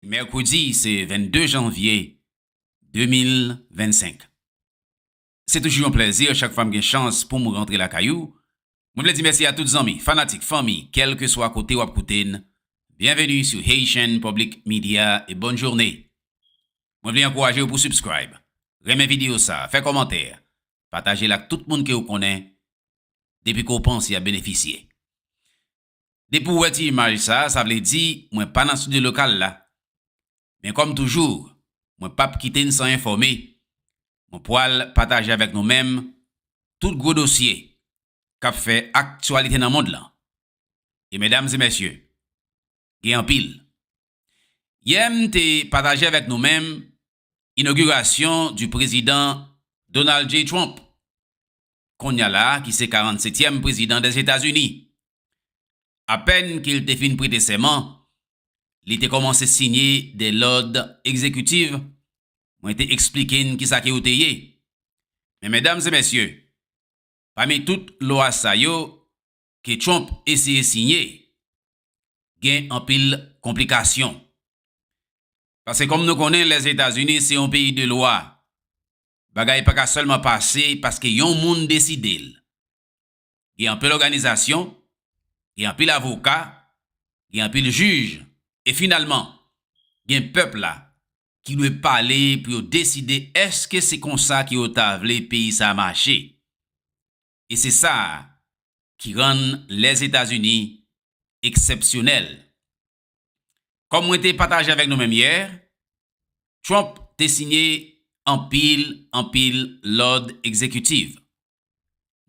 Mèkredi se 22 janvye 2025. Se toujou yon plèzi chak fwa m gen chans pou m rantre lakay ou. Mwen vle di mèsi a tout zanmi, fanatik, fanmi, kèlkeswa kote w ap koute n, byenveni sou Haitian Public Media e bòn journe. Mwen vle ankouraje w pou subscribe, renmen videyo sa, fè kòmantè, pataje l ak tout moun ke w konnen depi ke w panse y ap benefisye. Depi ou wè ti imaj sa, sa vle di mwen pa nan studio lokal la. Men kòm toujou, mwen pap kite n san enfòme. Mwen pwal pataje avèk nou menm tout gwo dosye kap fè aktyalite nan mond lan. E medam e mesye, gen anpil. Yè m te pataje avèk nou menm inogirasyon di prezidan Donald J. Trump, konnya la ki se 47 tièm prezidan Dèzetazini. Apèn ke l te fin prete sèman, li te kòmanse sinye de lòd egzekitiv, mwen te eksplike n kisa ke yo te ye. Men medam e mesye, pami tout lwa sa yo, ke Trump eseye siyen gen anpil konplikasyon. Pase kom nou konnen Lèzetazini se yon peyi de lwa, bagay pa ka selman pase paske yon moun deside l. Gen anpil òganizasyon, gen anpil avoka, gen anpil jij e finalman gen pèp la ki dwe pale pou yo deside eske se konsa ke yo ta vle peyi sa mache. e se sa a ki rann Lèzetazini eksèpsyonèl. Kòm mwen te pataje avèk nou menm yè, Trump te siyen anpil anpil lòd ekzekitiv.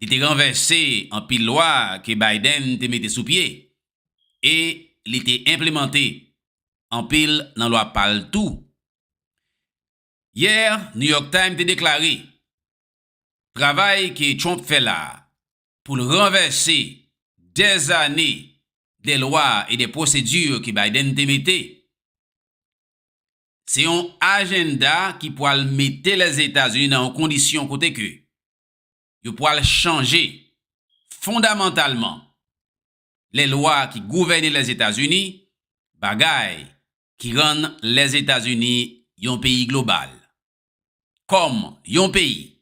Li te ranvèse anpil lwa ke Biden te mete sou pye e li te enplemante anpil nan lwa pa l tou. Yè, New York Times te deklare Travay ke Trump fè la a pou l ranvèse dè zane dè lwa e dè pwosedi ke Biden te mete, se yon ajenda ki pwal mete Lèzetazini nan yon kondisyon kote ke yo pwal chanje fondamantalman lè lwa ki gouvène Lèzetazini, bagay ki rann Lèzetazini yon peyi global. kòm yon peyi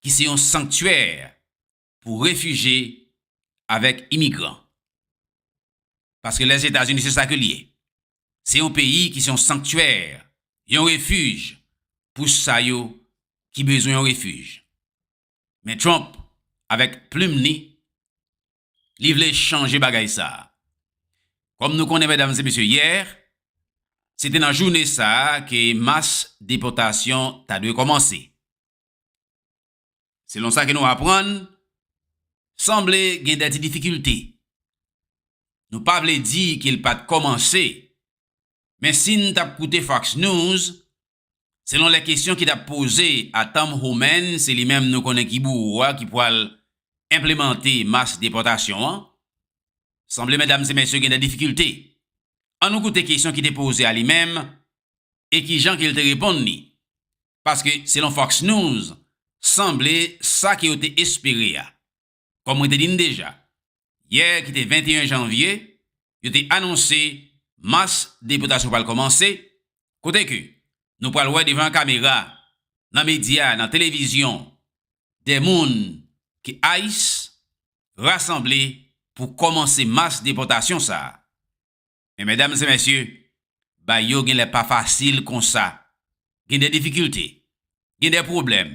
ki se yon sanktyè pou refije avèk imigran. Paske Lèzetazini se sa ke li ye. Se yon peyi ki se yon sanktyè, yon refij pou sa yo ki bezwen yon refij. Men Trump avèk plim li Li vle chanje bagay sa. Kòm nou konnen medam e mesye yè se te nan joune sa ke mas depòtasyon ta dwe kòmanse. Selon sa ke nou aprann, sanble gen dè ti difikilte. Nou pa vle di ke l pat kòmanse men si n tap koute Fox News Selon lè kesyon ki tap poze a Tom Homan se li menm nou konnen ki bouwo a ki pwal enplemante mas depòtasyon an. Sanble medam se mesye gen de difikilte. An nou koute kesyon ki te poze a li menm e kijan ke l te reponn li. Paske selon Fox News sanble sa ke yo te espere a Kòm mwen te di n deja, yè ki te 21 janvye, yo te anonse mas depotasyon pral kòmanse, kote ke nou pral wè devan kamera, nan medya, nan televizyon, dè moun ke ice rasanble pou kòmanse mas depotasyon sa a. Men mèdam e mèsye, bagay yo gen lè pa fasil konsa. Gen dè difikilte, gen dè pwoblèm.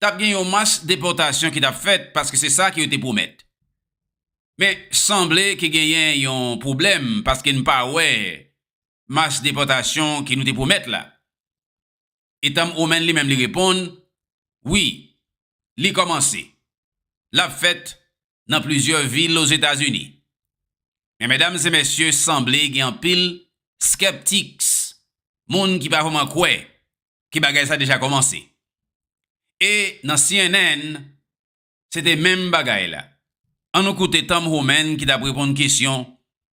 t ap gen yon mas depòtasyon ki t ap fèt paske se sa ke yo te pwomèt. Men, sanble ke genyen yon pwoblèm paske n pa wè mas depòtasyon ke nou te pwomèt la. Etam Omen li menm li reponn, Wi, li kòmanse. L ap fèt nan plizyè vil Ozetazini. Men medam se mesye sanble gen anpil skeptics, moun ki pa vreman kwè ke bagay sa deja komanse. E nan cnn se te menm bagay la. An nou koute Tom Homan ki tap reponn kesyon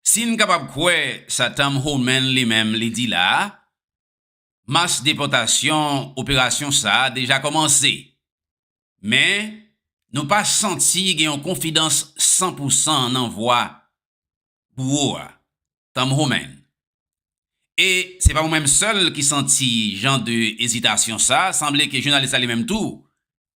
Si n kapab kwè sa Tom Homan li menm li di la a, mas depòtasyon operasyon sa a deja kòmanse. Men, nou pa santi gen yon konfidans san pou san nan vwa bouwo a, Tom Homan. E se pa ou menm sèl ki santi jan de ezitasyon sa a, sanble ke jounalis la li menm tou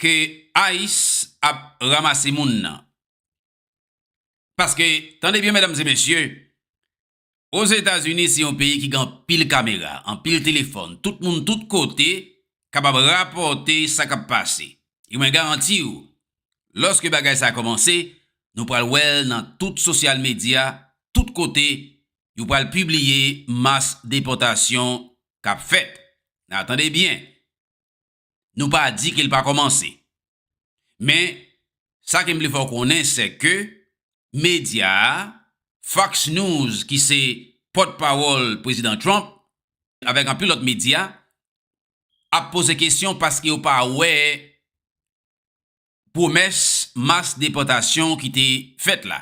ke ice ap ramase moun nan. Paske, tande byen medam e mesye, Ozetazini se yon peyi ki gen anpil kamera, anpil telefòn, tout moun tout kote kapab rapòte sa kap pase. E mwen garanti ou, lòske bagay sa kòmanse, nou pral wèl nan tout sosyal medya, tout kote, yo pral pibliye mas depòtasyon kap fèt. Nan tande byen. Nou pa di ke l pa kòmanse. Men, sa ke m vle fè w konnen sè ke medya a, Fox News ki se pòtpawòl Prezidan Trump, avèk anpil lòt medya, ap poze kesyon paske yo pa wè pwomès mas depòtasyon ki te fèt la.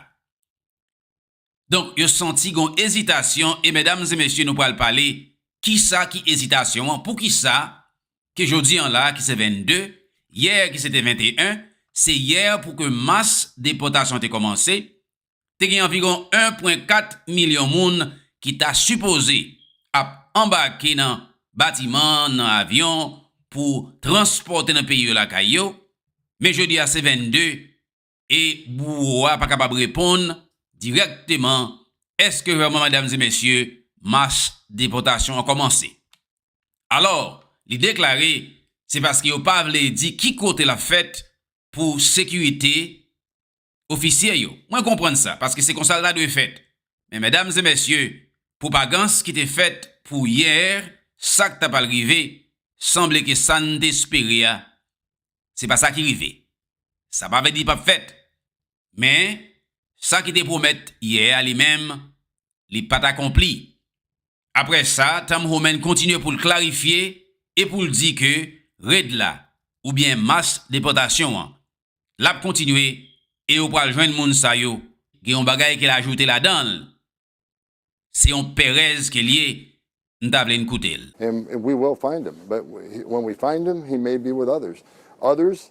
Donk yo santi gon ezitasyon e medam e mesye nou pral pale kisa ki ezitasyon an, poukisa ke jodi an la ki se 22, yè ki se te 21, se yè pou ke mas depòtasyon te kòmanse, te gen anviwon 1.4 milyon moun ki ta sipoze ap anbake nan batiman, nan avyon pou transpòte nan peyi yo lakay yo, men jodi a se 22 e bouwo a pa kapab reponn dirèkteman èske vrèman medam e mesye mach depòtasyon an kòmanse. Alò, li deklare se paske yo pa vle di ki kote l ap fèt pou sekirite ofisye yo. Mwen konprann sa, paske se konsa l ta dwe fèt. Men medam e mesye, pwopagans ki te fèt pou yè, sa k ta pral rive, sanble ke sa n te espere a, se pa sa ki rive. Sa pa vle di li p ap fèt, men sa ki te pwomèt yè a li menm, li pa t akonpli. Aprè sa, Tom Homan kontinye pou l klarifye e pou l di ke red la, oubyen mas depòtasyon an, l ap kontinye e yo pral jwenn moun sa yo. Gen yon bagay ke l ajoute ladan l, se yon perèz ke l ye, m ta vle n koute l. And we will find him, but when we find him, he may be with others. Others,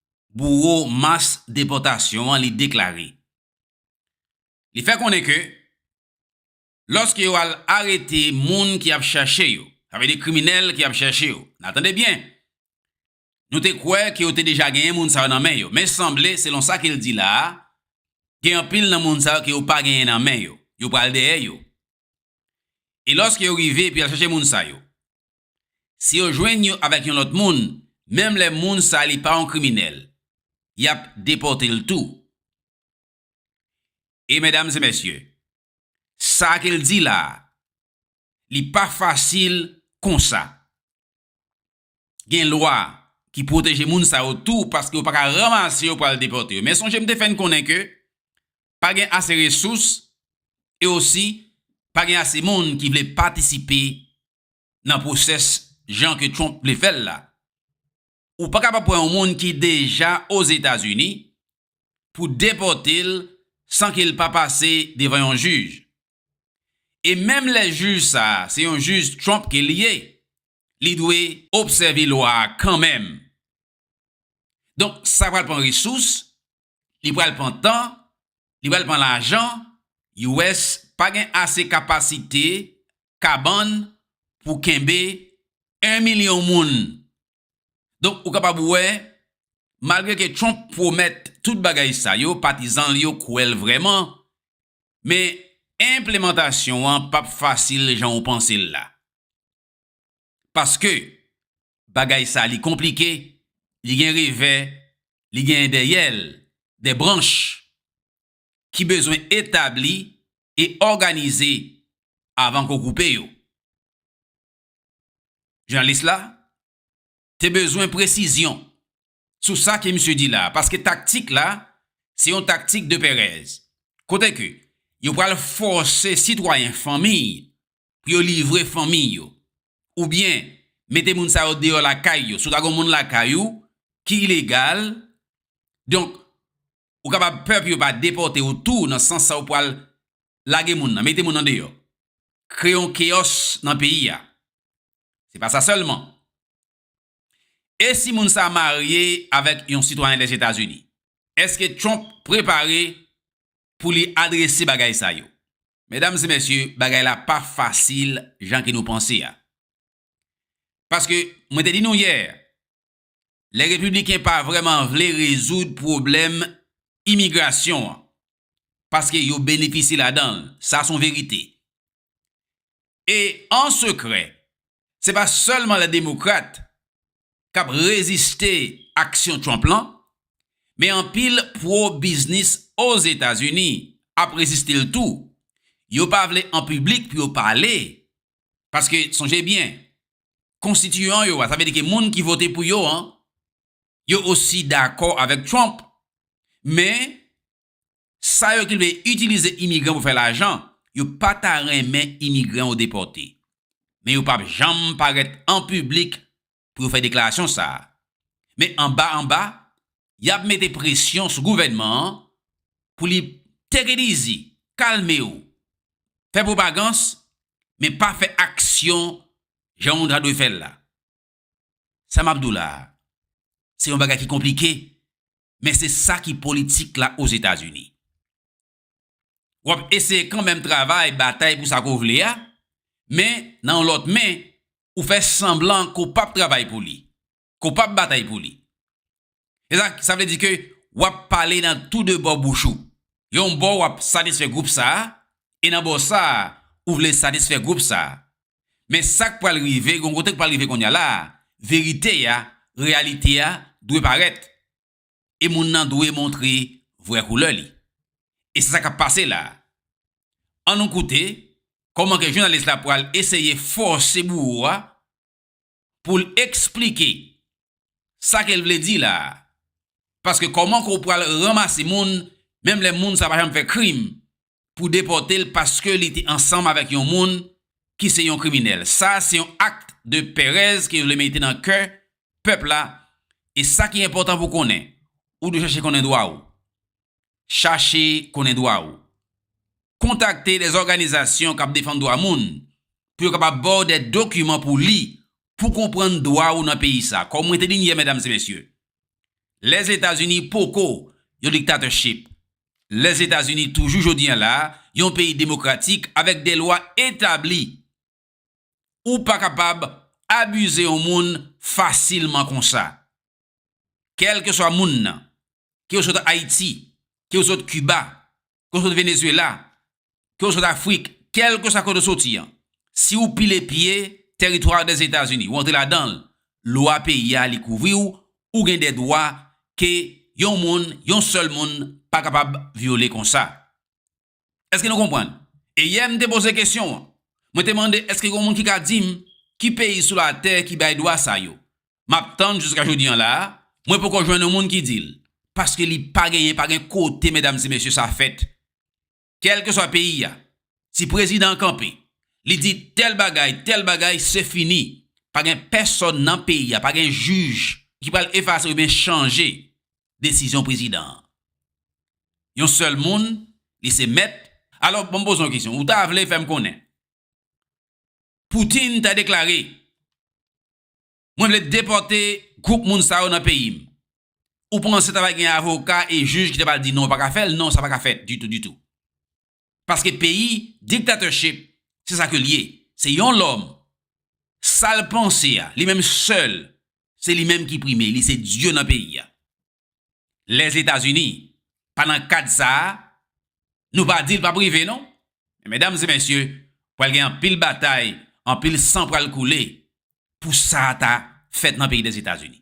bouwo mas depòtasyon an li deklare. Li fè konnen ke lòske yo al arete moun ki ap chèche yo, sa vle di kriminèl ki ap chèche yo, nan tande byen, nou te kwè ke yo te deja genyen moun sa yo nan men yo, men sanble selon sa ke l di la a, gen anpil nan moun sa yo ke yo pa genyen nan men yo, yo pral dèyè yo. E lòske yo rive epi y al chache moun sa yo, si yo jwenn yo avèk yon lòt moun, menm lè moun sa li pa yon kriminèl, y ap depòte l tou. E medam e mesye, sa ke l di la a, li pa fasil konsa. gen lwa ki pwoteje moun sa yo tou paske yo pa ka ranmase yo pou al depòte yo. Men sonje m te fè n konnen ke pa gen ase resous e osi pa gen ase moun ki vle patisipe nan pwosès jan ke Trump vle fè l la. Ou pa kapab pran yon moun ki deja Ozetazini pou depòte l san ke l pa pase devan yon jij. E menm lè jij sa a se yon jij Trump ke li ye, li dwe obsève lwa a kanmenm. Donk, sa pral pran resous, li pral pran tan, li pral pran lajan, US pa gen ase kapasite kabann pou kenbe 1 milyon moun. Donk, ou kapab wè, malgre ke Trump pwomèt tout bagay sa yo, patizan l yo kwè l vrèman, men enplemantasyon an p ap fasil jan ou panse l la. Paske bagay sa li konplike, li gen revè, li gen dèyè l, de branch ki bezwen etabli e òganize avan ko koupe yo. Jounalis la te bezwen presizyon sou sa ke misye di la, paske taktik la, se yon taktik de perèz. Kote ke, yo pral fòse sitwayen fanmi, pou yo livre fanmi yo. Ou byen, mete moun sa yo deyò lakay yo. Si w ta gen yon moun lakay ou, ki ilegal, donk, ou kapab pè pou yo pa depòte ou tou, nan sans sa ou pral lage moun nan, mete moun nan deyò. Kreye yon keyòs nan peyi a. Se pa sa sèlman. E si moun sa marye avèk yon sitwayen Lèzetazini? Èske Trump prepare pou li adrese bagay sa yo? Medam e mesye, bagay la pa fasil jan ke nou panse a. Paske, mwen te di nou yè, lè Repibliken pa vrèman vle rezoud pwoblèm imigrasyon an, paske yo benefisye ladan l, sa son verite. E an sekrè, se pa sèlman lè Demokrat k ap reziste aksyon Trump lan, men anpil pwo-biznis Ozetazini ap reziste l tou. Yo pa vle an piblik pou yo pale, paske sonje byen, konstitiyan yo a, sa vle di ke moun ki vote pou yo an, yo osi dakò avèk Trump, men Sa yo ki vle itilize imigran pou fè lajan, yo pa ta renmen imigran yo depòte. Men yo pap janm parèt an piblik pou yo fè deklarasyon sa a. Men anba anba, y ap mete presyon sou gouvènman an pou li teke dizi, kalme w, fè pwopagans, men pa fè aksyon jan ou ta dwe fè l la. Sa map di w la a, se yon bagay ki konplike, men se sa ki politik la Ozetazini. W ap eseye kanmenm travay, batay pou sa ke w vle a, men nan yon lòt men, ou fè sanblan ke w pap travay pou li, ke w pap batay pou li. Sa vle di ke wap pale nan tou 2 bò bouch ou. Yon bò wap satisfè gwoup sa, e nan bò sa ou vle satisfè gwoup sa. Men sak pral rive, gon kote k pral rive konnya la, verite a, reyalite a dwe parèt. E moun nan dwe montre vrè koulè li. E se sa kap pase la. An nou koute kòman ke jounalis la pral eseye fòse bouwo a pou l esplike sa ke l vle di la a. Paske kòman ke w pral ranmase moun, menm lè moun sa pa janm fè krim, pou depòte l paske li te ansanm avèk yon moun ki se yon kriminèl. Sa a se yon akt de perèz ke yo vle mete nan kè pèp la. E sa ki enpòtan pou w konnen, ou dwe chache konnen dwa ou. Chache konnen dwa ou. Kontakte dè òganizasyon k ap defann dwa moun pou yo kapab ba w dè dokiman pou w li pou w konprann dwa ou nan peyi sa. Kòm mwen te di n yè, medam e mesye, Lèzetazini poko yon diktatèchip. Lèzetazini toujou jodi an la yon peyi demokratik avèk dè lwa etabli. ou pa kapab abize yon moun fasilman konsa. Kèlkeswa moun nan, ke ou sot Ayiti, ke ou sot Kiba, ke ou sot Venezuela, ke ou sot Afrik, kèlkeswa kote ou soti an, si ou pile pye tèritwa Dèzetazini, ou antre ladan l, lwa peyi a li kouvri ou, ou gen de dwa ke yon moun, yon sèl moun pa kapab vyole konsa. Èske nou konprann? E yè m te poze kesyon an. Mwen te mande èske gen moun ki ka di m ki peyi sou latè ki bay dwa sa yo. M ap tann jiska jodi an la a, mwen poko jwenn yon moun ki di l. Paske li pa genyen, pa gen kote medam e mesye sa fèt. Kèlkeswa peyi a, si prezidan an kanpe, li di tèl bagay, tèl bagay, se fini. Pa gen pèsòn nan peyi a, pa gen jij ki pral efase oubyen chanje desizyon prezidan an. Yon sèl moun, li se mèt. Alò, banm poze yon kesyon. Ou ta vle fè m konnen Putin ta deklare, Mwen vle depòte gwoup moun sa yo nan peyi m. Ou panse ta va gen avoka e jij ki ta pral di non ou pa ka fè l? Non, sa pa ka fèt ditou ditou. paske peyi dictatorship se sa ke li ye se yon lòm sal panse a li menm sèl se li menm ki prime li se dye nan peyi a lèzetazini pa nan kad sa a nou pa dil pap rive non men medam e mesye pral gen anpil batay anpil san pral koule pou sa ta fèt nan peyi dèzetazini.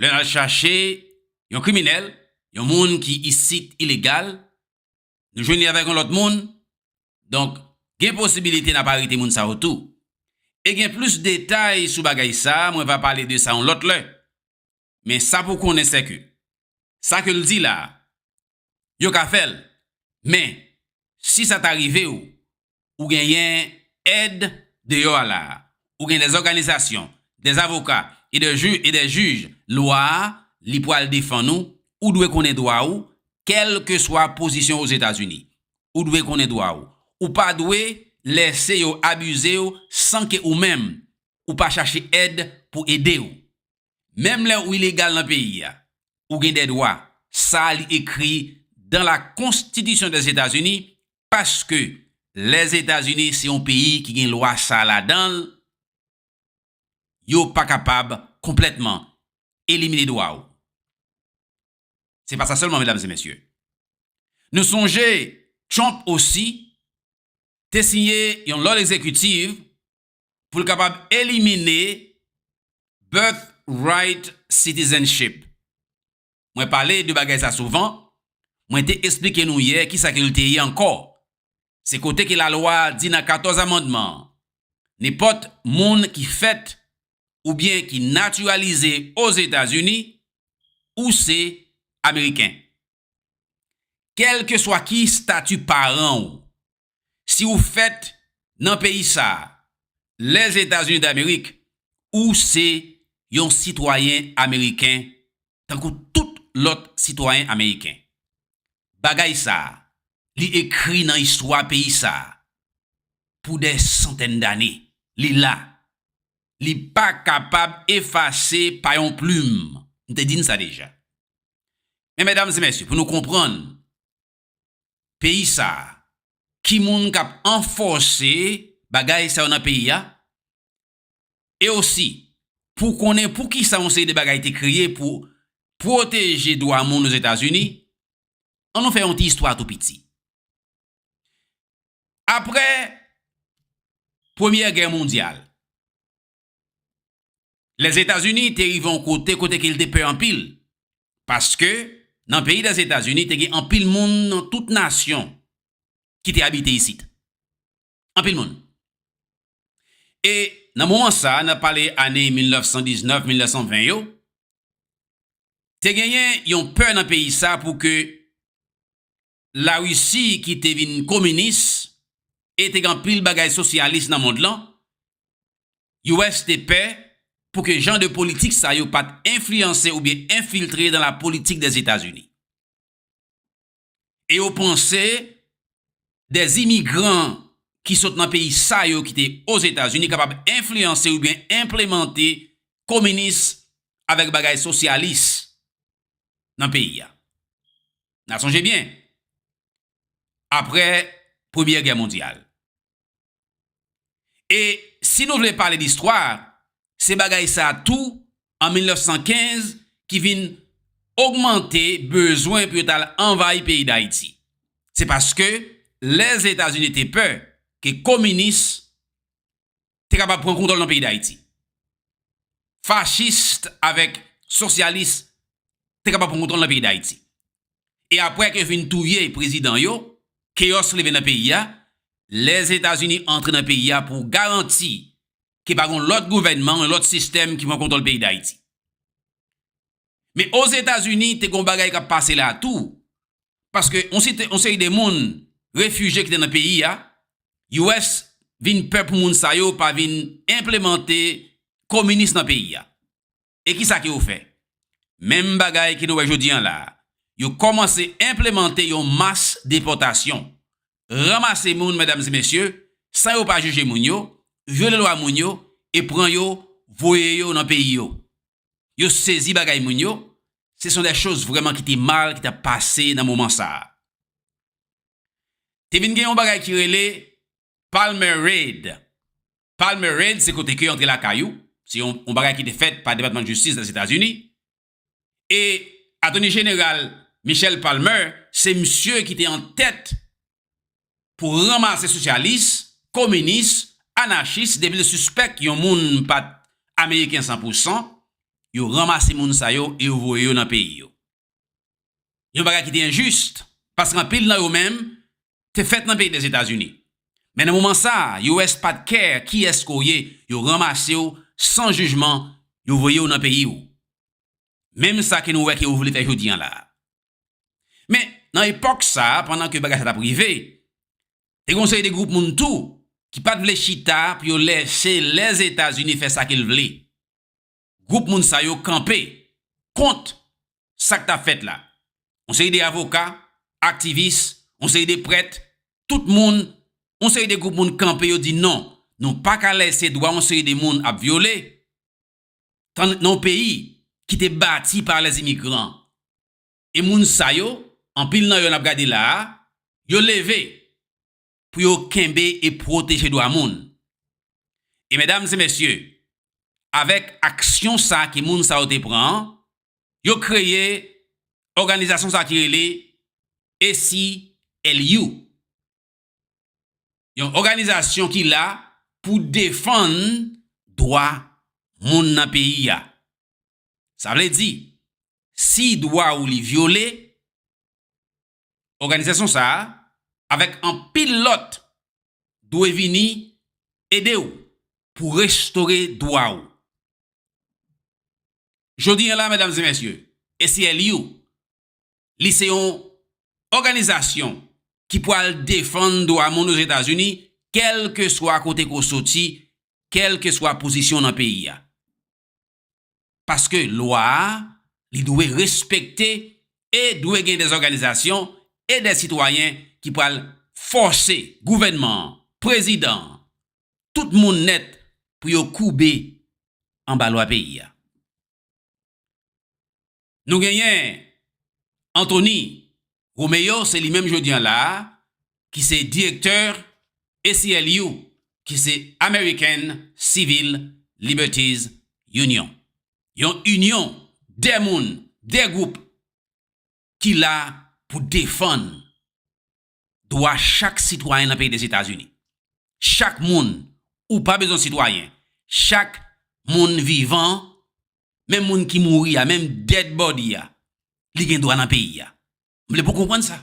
Lè n al chache yon kriminèl, yon moun ki isit ilegal, nou jwenn li avèk yon lòt moun, donk gen posibilite n ap arete moun sa yo tou. E gen plis detay sou bagay sa, mwen va pale de sa yon lòt lè. Men sa pou w konnen sèke Sa ke l di la a, yo ka fè l, men, si sa ta rive ou, ou genyen èd deyò a la a. Ou gen dè òganizasyon, dè avoka e dè ju, e dè jij, lwa a, li pral defann ou, ou dwe konnen dwa ou, kèlkeswa pozisyon Ozetazini. Ou dwe konnen dwa ou. Ou pa dwe lèse yo abize ou san ke ou menm, ou pa chache èd pou ede ou. Menm lè ou ilegal nan peyi a, ou gen dè dwa. Sa a li ekri dan la konstitisyon dè Etazini, paske lè Etazini se yon peyi ki gen lwa sa a ladan l, yo pa kapab konplètman elimine dwa ou. Se pa sa sèlman medam e mesye. Nou sonje Trump osi te siyen yon lòd egzekitiv pou l kapab elimine birthright citizenship. Mwen pale de bagay sa souvan, mwen te esplike nou yè ki sa ke l te ye ankò. Se kote ke lalwa di nan 14 amandman, nenpòt moun ki fèt oubyen ki natiralize Ozetazini, ou se Ameriken. Kèlkeswa ki stati paran ou, Si ou fèt nan peyi sa a, Lèzetazini Damerik, ou se yon sitwayen ameriken tankou tout lòt sitwayen ameriken. Bagay sa a, li ekri nan istwa peyi sa a pou dè santèn dane. Li la. Li pa kapab efase pa yon plim. M te di n sa deja. Men medam e mesye, pou nou konprann peyi sa a? Ki moun k ap anfòse bagay sa yo nan peyi a? E osi, pou w konnen poukisa yon seri de bagay te kreye pou pwoteje dwa moun Ozetazini, an nou fè yon ti istwa tou piti. Apre Premyè Gè mondyal, Lèzetazini te rive yon kote kote ke li te pè anpil, paske nan peyi Lèzetazini te gen anpil moun nan tout nasyon ki te abite isit. Anpil moun. E nan moman sa a, n ap pale ane 1919, 1920 yo, te genyen yon pè nan peyi sa pou ke Larisi ki te vin kominis e te gen anpil bagay sosyalis nan mond lan, US te pè pou ke jan de politik sa yo pat enfliyanse oubyen enfiltre dans la politique des États-Unis. E yo panse des imigran ki sot nan peyi sa yo ki te Ozetazini kapab enfliyanse oubyen enplemante kominis avèk bagay sosyalis nan peyi a. Na sonje byen, apre Premye Gè Mondyal. E si nou vle pale distwa, se bagay sa tou an 1915 ki vin ogmante bezwen pou yo t al anvayi peyi Dayiti. Se paske Lèzetazini te pè ke kominis te kapab pran kontwòl nan peyi Dayiti. Fachist avèk sosyalis te kapab pran kontwòl nan peyi Dayiti. E apre ke yo fin touye prezidan yo, keyòs leve nan peyi a, Lèzetazini antre nan peyi a pou garanti ke pa gen yon lòt gouvènman, yon lòt sistèm ki pran kontwòl peyi Dayiti. Men Ozetazini te gen yon bagay k ap pase la tou. Paske yon seri de moun, refije ki te nan peyi a, US vin pè pou moun sa yo pa vin enplemante kominis nan peyi a. E ki sa ke yo fè? Menm bagay ke nou wè jodi an la. Yo kòmanse enplemante yon mas depòtasyon. Ranmase moun, medam e mesye, san yo pa jije moun yo, vyole lwa moun yo, e pran yo, voye yo nan peyi yo. Yo sezi bagay moun yo, se son dè choz vrèman ki te mal ki tap pase nan moman sa a. Te vin gen yon bagay ki rele Palmer Raid. Palmer Raid se kote ke yo antre lakay ou, se yon bagay ki te fèt pa Depatman Jistis Lèzetazini. E Atoni Jeneral Michel Palmer se misye ki te an tèt pou ranmase sosyalis, kominis, anachis depi l sispèk yon moun pa t ameriken san pou san, yo ranmase moun sa yo e yo voye yo nan peyi yo. Yon bagay ki te enjis, paske anpil nan yo menm te fèt nan peyi Lèzetazini. Men nan moman sa a, US pa t kè kiyès ke w ye, yo ranmase w san jijman, yo voye w nan peyi w. Menm sa ke nou wè ke yo vle fè jodi an la a. Men, nan epòk sa, pandan ke bagay sa tap rive, te gen yon seri de gwoup moun tou ki pat vle chita pou yo lèse Lèzetazini fè sa ke l vle. Gwoup moun sa yo kanpe kont sa k tap fèt la. Yon seri de avoka, aktivis, yon seri de prèt, tout moun, yon seri de gwoup moun kanpe yo di non, nou pa ka lèse dwa yon seri de moun ap vyole, tann nan yon peyi ki te bati par les immigrants. E moun sa yo, anpil nan yo n ap gade la a, yo leve pou yo kenbe e pwoteje dwa moun. E medam e mesye, avèk aksyon sa a ke moun sa yo te pran an, yo kreye òganizasyon sa a ki rele ACLU. Yon òganizasyon ki la pou defann dwa moun nan peyi a. Sa vle di, si dwa ou li vyole, òganizasyon sa a avèk anpil lòt dwe vini ede ou pou restore dwa ou. Jodi an la, medam e mesye, ACLU Li se yon òganizasyon ki pwal defann dwa moun Ozetazini kèlkeswa kote ke w soti, kèlkeswa pozisyon w nan peyi a. Paske lwa a, li dwe respekte e dwe gen de òganizasyon e de sitwayen ki pwal fòse gouvènman an, prezidan an, tout moun nèt pou yo koube anba lwa peyi a. Nou genyen Anthony Romeo, se li menm jodi an la a ki se direktè ACLU, ki se American Civil Liberties Union. Yon inyon de moun, de gwoup ki la pou defann dwa chak sitwayen nan peyi Dezetazini. Chak moun, ou pa bezwen sitwayen, chak moun vivan, menm moun ki mouri a, menm dead body a, li gen dwa nan peyi a. M vle pou w konprann sa.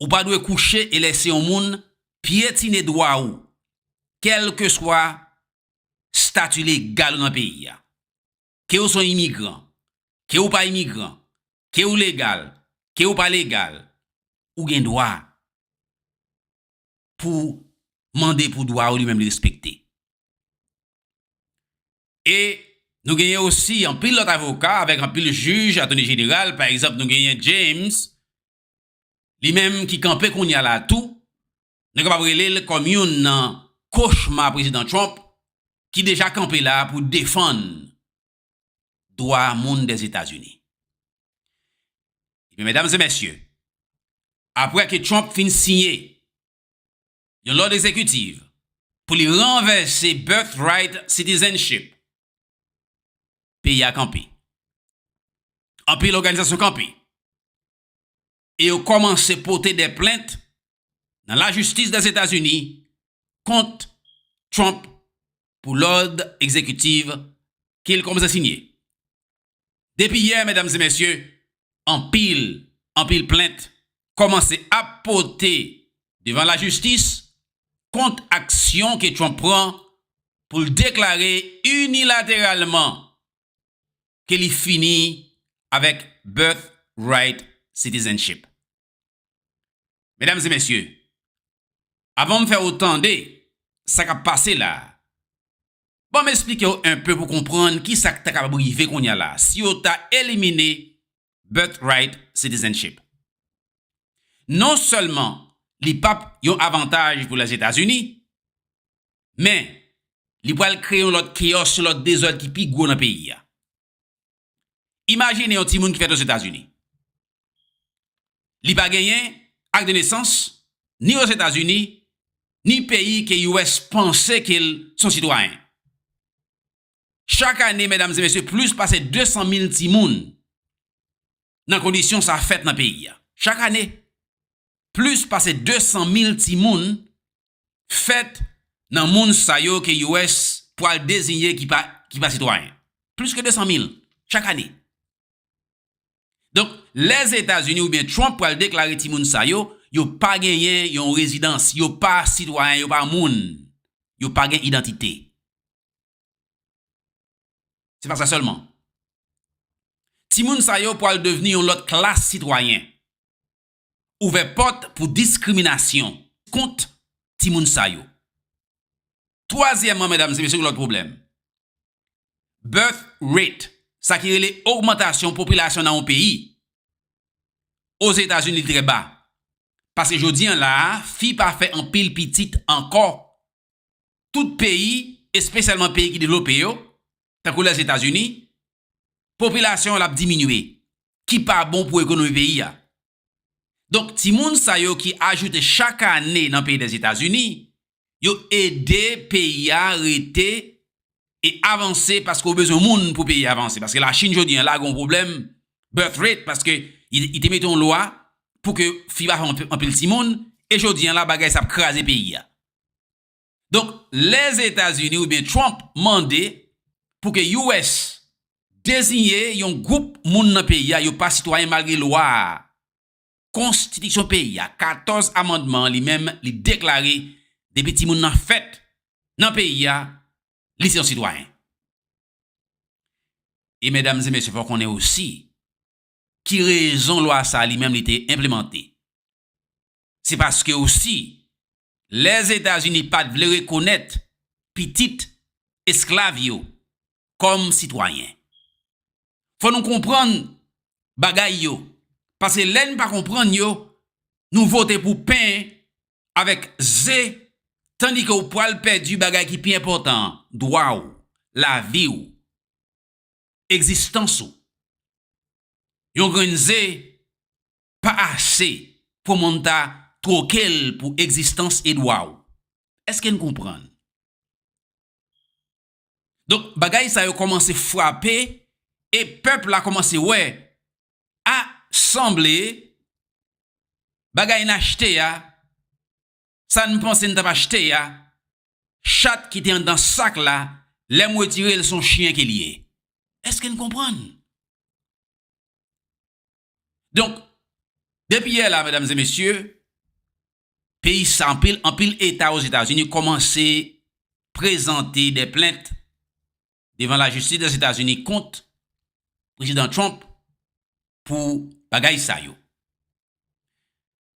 Ou pa dwe kouche e lese yon moun pyetine dwa ou, kèlkeswa stati legal ou nan peyi a. ke ou son imigran, ke ou pa imigran, ke ou legal, ke ou pa legal, ou gen dwa pou ou mande pou dwa ou li menm li respekte. E nou genyen osi anpil lòt avoka avèk anpil jij, atoni jeneral, pa egzanp nou genyen James, li menm ki kanpe kounye a la tou, nou kapab rele l kòm youn nan kochma Prezidan Trump ki deja kanpe la pou defann dwa moun Dèzetazini. Ebyen medam e mesye, apre ke Trump fin siyen yon lòd egzekitiv pou li ranvèse Birthright Citizenship, peyi a kanpe. Anpil òganizasyon kanpe. e yo kòmanse pote de plent nan lajistis Dèzetazini kont Trump pou lòd egzekitiv ke l kòmanse siyen. Depi yè, medam e mesye, anpil, anpil plent kòmanse ap pote devan lajistis kont aksyon ke Trump pran pou l deklare inilateralman ke li fini avèk birth right citizenship. Medam e mesye, avan m fè ou tande sa k ap pase la, ban m esplike ou enpe pou konprann ki sa k ta kapab rive kounya la si yo ta elimine birth right citizenship. Non sèlman li p ap yon avantaj pou Lèzetazini, Men, li pral kreye yon lòt keyòs, yon lòt dezòd ki pi gwo nan peyi a. Imajine yon timoun ki fèt ozetazini. Li pa genyen ak de nesans ni ozetazini, ni peyi ke US panse ke l son sitwayen. Chak ane, medam e mesye, plis pase 200 mil timoun nan kondisyon sa fèt nan peyi a. Chak ane. plis pase 200 mil timoun fèt nan moun sa yo ke US pwal dezinye ki pa ki pa sitwayen. Plis ke 200 mil chak ane. Donk Lèzetazini oubyen Trump pwal deklare timoun sa yo, yo pa genyen yon rezidans, yo pa sitwayen, yo pa moun, yo pa gen idantite. Se pa sa sèlman. Timoun sa yo pwal devni yon lòt klas sitwayen. ouvè pòt pou diskriminasyon kont timoun sa yo. Twazyèman, medam e mesye gen lòt pwoblèm. Birth rate, sa ki rele ogmantasyon popilasyon nan yon peyi. Ozetazini li trè ba. Paske jodi an la a, fi pa fè anpil pitit ankò. Tout peyi, espesyalman peyi ki devlope yo, tankou Lèzetazini, popilasyon l ap diminye, ki pa bon pou ekonomi peyi a. Donk, timoun sa yo ki ajoute chak ane nan peyi Lèzetazini, yo ede peyi a rete e avanse paske ou bezwen moun pou peyi a avanse. Paske Lachin jodi an la gen yon pwoblèm birth rate paske li te mete yon lwa pou ke fi pa fè anpil timoun e jodi an la bagay sa ap kraze peyi a. Donk Lèzetazini oubyen Trump mande pou ke US deziye yon gwoup moun nan peyi a yo pa sitwayen malgre lwa a, konstitiksyon peyi a, 14 amandman an li menm li deklare depi timoun nan fèt nan peyi a li se yon sitwayen. E medam e mesye fò konnen osi ki rezon lwa sa li menm li te enplemante Se paske osi, lè Etazini pa t vle rekonèt pitit esklav yo kòm sitwayen. Fò nou konprann bagay yo, pase lè n pa konprann yo, nou vote pou pen avèk ze tandike w pral pèdi bagay ki pi enpòtan an, dwa w, lavi w. egzistans ou. Yon grenn ze pa ase pou moun ta twoke l pou egzistans Edwa w. Eske n konprann? Donk, bagay sa yo kòmanse frape e pèp la kòmanse wè, a, sanble bagay n achte a Sa n panse n t ap achte a, chat ki te anndan sak la, lè m wetire l s on chyen ke l ye. Èske n konprann? Donk, depi yè la, medam e mesye, peyi sa anpil, anpil eta Ozetazini kòmanse prezante dè plent devan lajistis Dèzetazini kont Prezidan Trump pou bagay sa yo.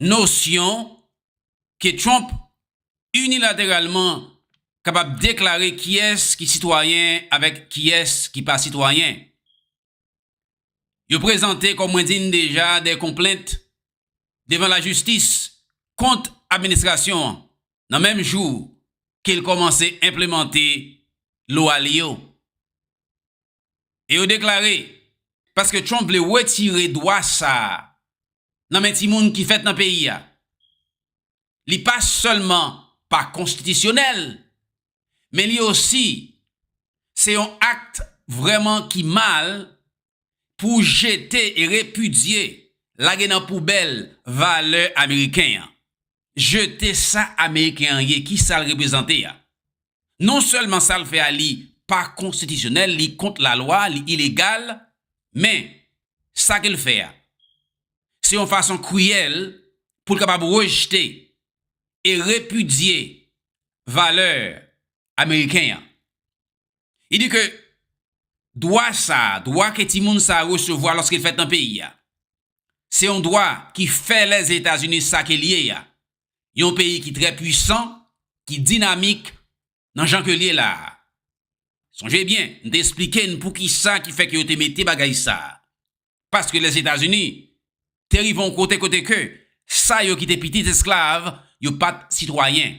nosyon ke Trump inilateralman kapab deklare kiyès ki sitwayen avèk kiyès ki pa sitwayen. Yo prezante kòm mwen di n deja de konplent devan lajistis kont administrasyon an nan menm jou ke l kòmanse enplemante lwa li yo. e yo deklare paske Trump vle retire dwa sa a nan men timoun ki fèt nan peyi a, li pa sèlman pa konstitisyonèl, men li osi se yon akt vrèman ki mal pou w jete e repidye, lage nan poubèl valè ameriken an. jete sa ameriken an ye, ki sa l reprezante a. Non sèlman sa l fè a li pa konstitisyonèl, li kont lalwa, li ilegal, men, sa ke l fè a, se yon fason kriyèl pou l kapab rejte e repidye valè ameriken an. Li di ke dwa sa, dwa ke timoun sa resevwa lòske l fèt nan peyi a, se yon dwa ki fè Lèzetazini sa ke l ye a, yon peyi ki trè pwisan, ki dinamik nan jan ke l ye la a. Sonje byen, m te esplike n poukisa ki fè ke yo te mete bagay sa a. Paske Lèzetazini te rive yon kote kote ke sa yo ki te pitit esklav yo pa t sitwayen.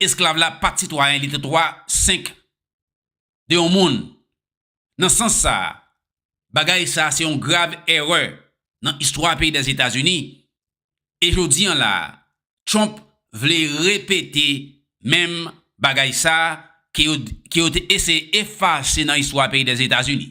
Esklav la pa t sitwayen, li te twa senk de yon moun. Nan sans sa a, bagay sa a se yon grav èrè nan istwa peyi Lèzetazini. E jodi an la a, Trump vle repete menm bagay sa a ke yo te eseye efase nan istwa peyi Lèzetazini.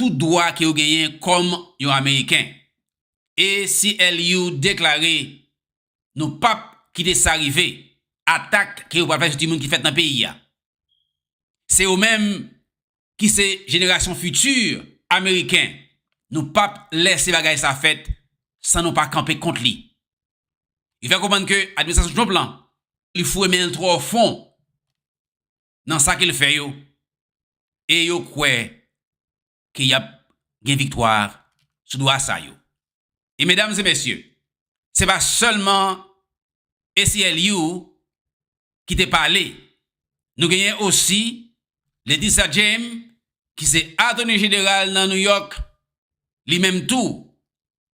tout dwa ke yo genyen kòm yon Ameriken. ACLU deklare, Nou pap kite sa rive, atak ke yo pral fè sou timoun ki fèt nan peyi a. Se yo menm ki se jenerasyon fiti Ameriken, nou pap lèse bagay sa fèt san nou pa kanpe kont li. Li fè konprann ke administrasyon Trump lan, li foure men l twò fon. nan sa ke l fè yo, e yo kwè ke y ap gen viktwa sou do a sa yo. E medam e mesye, se pa sèlman ACLU ki te pale, nou genyen osi Letitia James ki se Atoni Jeneral nan New York, li menm tou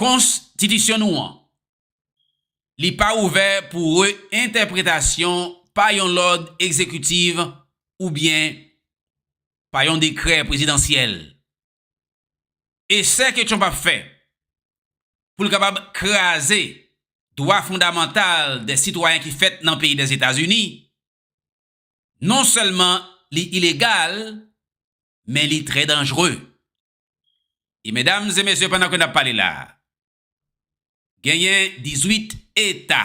Kons titisyon nou an. Li pa ouvè pou re-entèpretasyon pa yon lòd egzekitiv oubyen pa yon dekrè prezidansyèl. Esè ke Trump ap fè pou l kapab kraze dwa fondamantal de sitwayen ki fèt nan peyi Dèzetazini, non sèlman li ilegal, men li trè danjre. E medam e mesye pandan ke nap pale la a, genyen 18 eta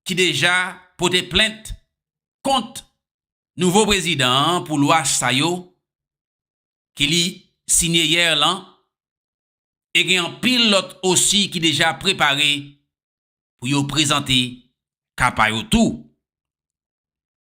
ki deja pote plent kont nouvo prezidan an pou lwa sa yo ke li sinye yè lan e gen anpil lòt osi ki deja prepare pou yo prezante ka pa yo tou.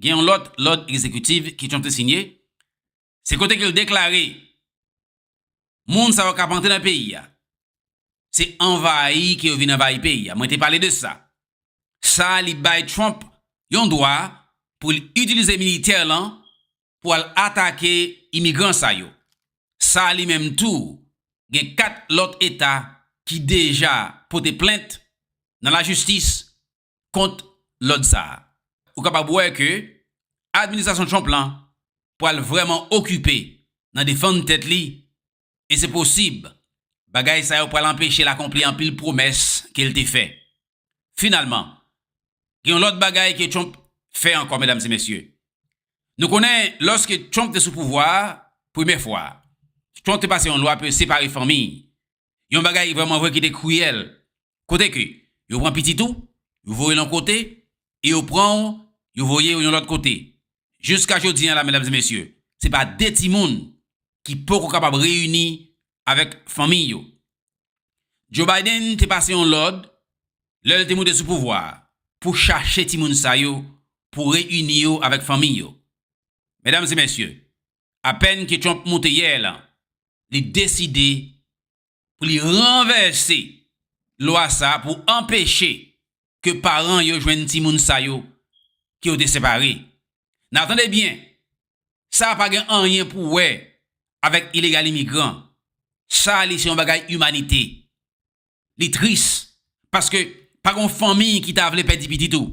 Gen yon lòt lòd egzekitiv ke Trump te sinye, se kote ke l deklare moun sa yo k ap antre nan peyi a, se anvayi ke yo vin anvayi peyi a. Mwen te pale de sa. Sa li bay Trump yon dwa pou l itilize militè l an pou al atake imigran sa yo. Sa li menm tou gen 4 lòt eta ki deja pote plent nan lajistis kont lòd sa a. Ou kapab wè ke administrasyon Trump lan pral vrèman okipe nan defann tèt li e se posib bagay sa yo pral anpeche l akonpli anpil pwomès ke l te fè. Finalman, gen yon lòt bagay ke Trump fè ankò, medam e mesye. Nou konnen lòske Trump te sou pouvwa a premye fwa a, Trump te pase yon lwa pou yo separe fanmi Yon bagay vrèman vre ki te kriyèl. Kote ke yo pran pitit ou, yo voye l yon kote, e yo pran ou, yo voye ou yon lòt kote. Jiska jodi an la, medam e mesye, se pa de timoun ki poko kapab reyini avèk fanmiy yo. Joe Biden te pase yon lòd, lè l te moute sou pouvwa a, pou chache timoun sa yo, pou reyini yo avèk fanmiy yo. Medam e mesye, Apèn ke Trump moute yè la, li deside pou li ranvèse lwa sa a pou anpeche ke paran yo jwenn timoun sa yo ke yo te separe. Nan tande byen, sa a pa gen anyen pou wè avèk ilegal imigran. Sa a li se yon bagay imanite. Li tris paske pa gen yon fanmi ki ta vle pèdi pitit ou.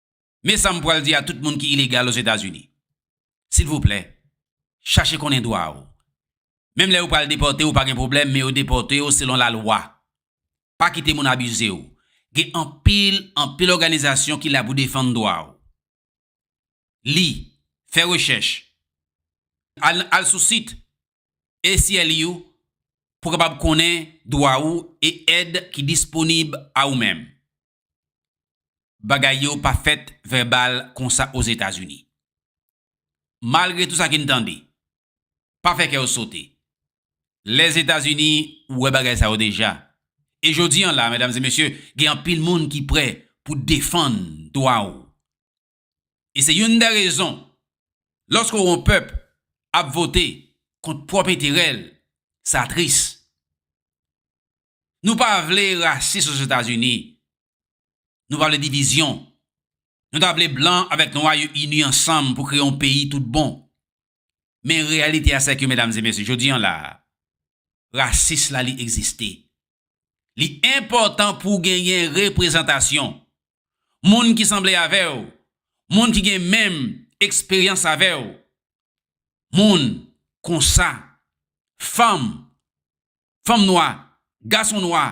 Men sa m pral di a tout moun ki ilegal Ozetazini. Silvouplè, chache konnen dwa ou. Menm lè yo pral depòte ou pa gen pwoblèm men yo depòte ou selon lalwa. Pa kite moun abize ou. Gen anpil, anpil òganizasyon ki la pou defann dwa ou. Li, fè rechèch. Al, al sou sit ACLU pou w kapab konnen dwa ou e èd ki disponib a ou menm. bagay yo pa fèt vèbal konsa Ozetazini. Malgre tou sa ki n tande, pa fè kè w sote. Lèzetazini wè bagay sa yo deja. E jodi an la, medam e mesye, gen anpil moun ki prè pou defann dwa w. E se youn dè rezon, lòske w yon pèp ap vote kont pwòp enterè l, sa tris. Nou pa vle rasis Ozetazini, nou pa vle divizyon. Nou ta vle blan avèk nwa yo ini ansanm pou kreye yon peyi tout bon. Men reyalite a sèke medam e mesye, jodi an la a, rasis la li egziste. Li enpòtan pou genyen reprezantasyon moun ki sanble avè w, moun ki gen menm eksperyans avè w, moun konsa, fanm, fanm nwa, gason nwa,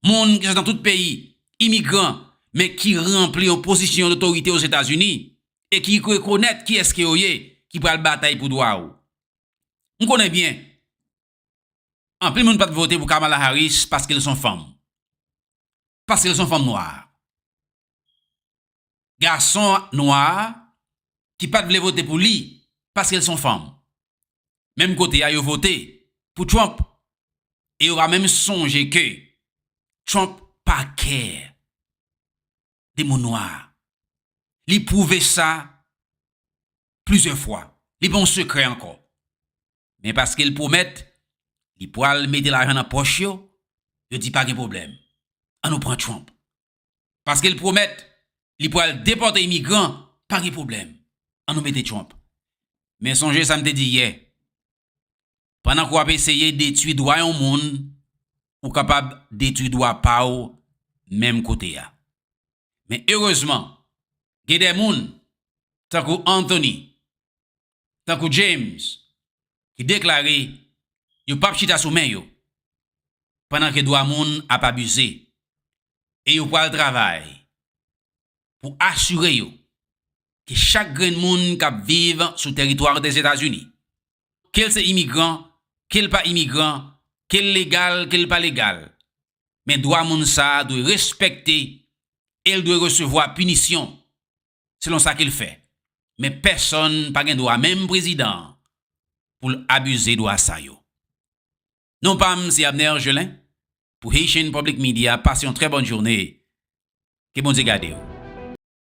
moun ki sot nan tout peyi, imigran, men ki ranpli yon pozisyon dotorite Ozetazini e ki rekonèt ki eske yo ye, ki pral batay pou dwa w. M konnen byen, anpil moun pat vote pou Kamala Harris paske l son fanm. Paske l s on fanm nwa. Gason nwa ki pat vle vote pou li paske l s on fanm. Menm kote a yo vote pou Trump e yo pa menm sonje ke Trump pa kè de moun nwa. Li pwouve sa plizyè fwa. Li pa yon sekrè ankò. Men paske l pwomèt li pwal mete lajan nan pòch yo, yo di pa gen pwoblèm, an nou pran Trump. Paske l pwomèt li pwal depòte imigran, pa gen pwoblèm, an nou mete Trump. Men sonje sa m te di yè, pandan ke w ap eseye detwi dwa yon moun, ou kapab detwi dwa pa w menm kote a. Men erezman, gen de moun, tankou Anthony, tankou James ki deklare yo pap chita sou men yo pandan ke dwa moun ap abize e yo pwal travay pou asire yo ke chak grenn moun kap viv sou teritwa Dèzetazini, kel se imigran, kel pa imigran, kel legal, kel pa legal, men dwa moun sa dwe respekte el dwe resevwa pinisyon. selon sa ke l fè, men pèsonn pa gen dwa, menm prezidan an, pou l abize dwa sa yo. Non pa m se Abner Gelin pou Haitian Public Media, pase yon trè bòn joune, ke Bondye gade w.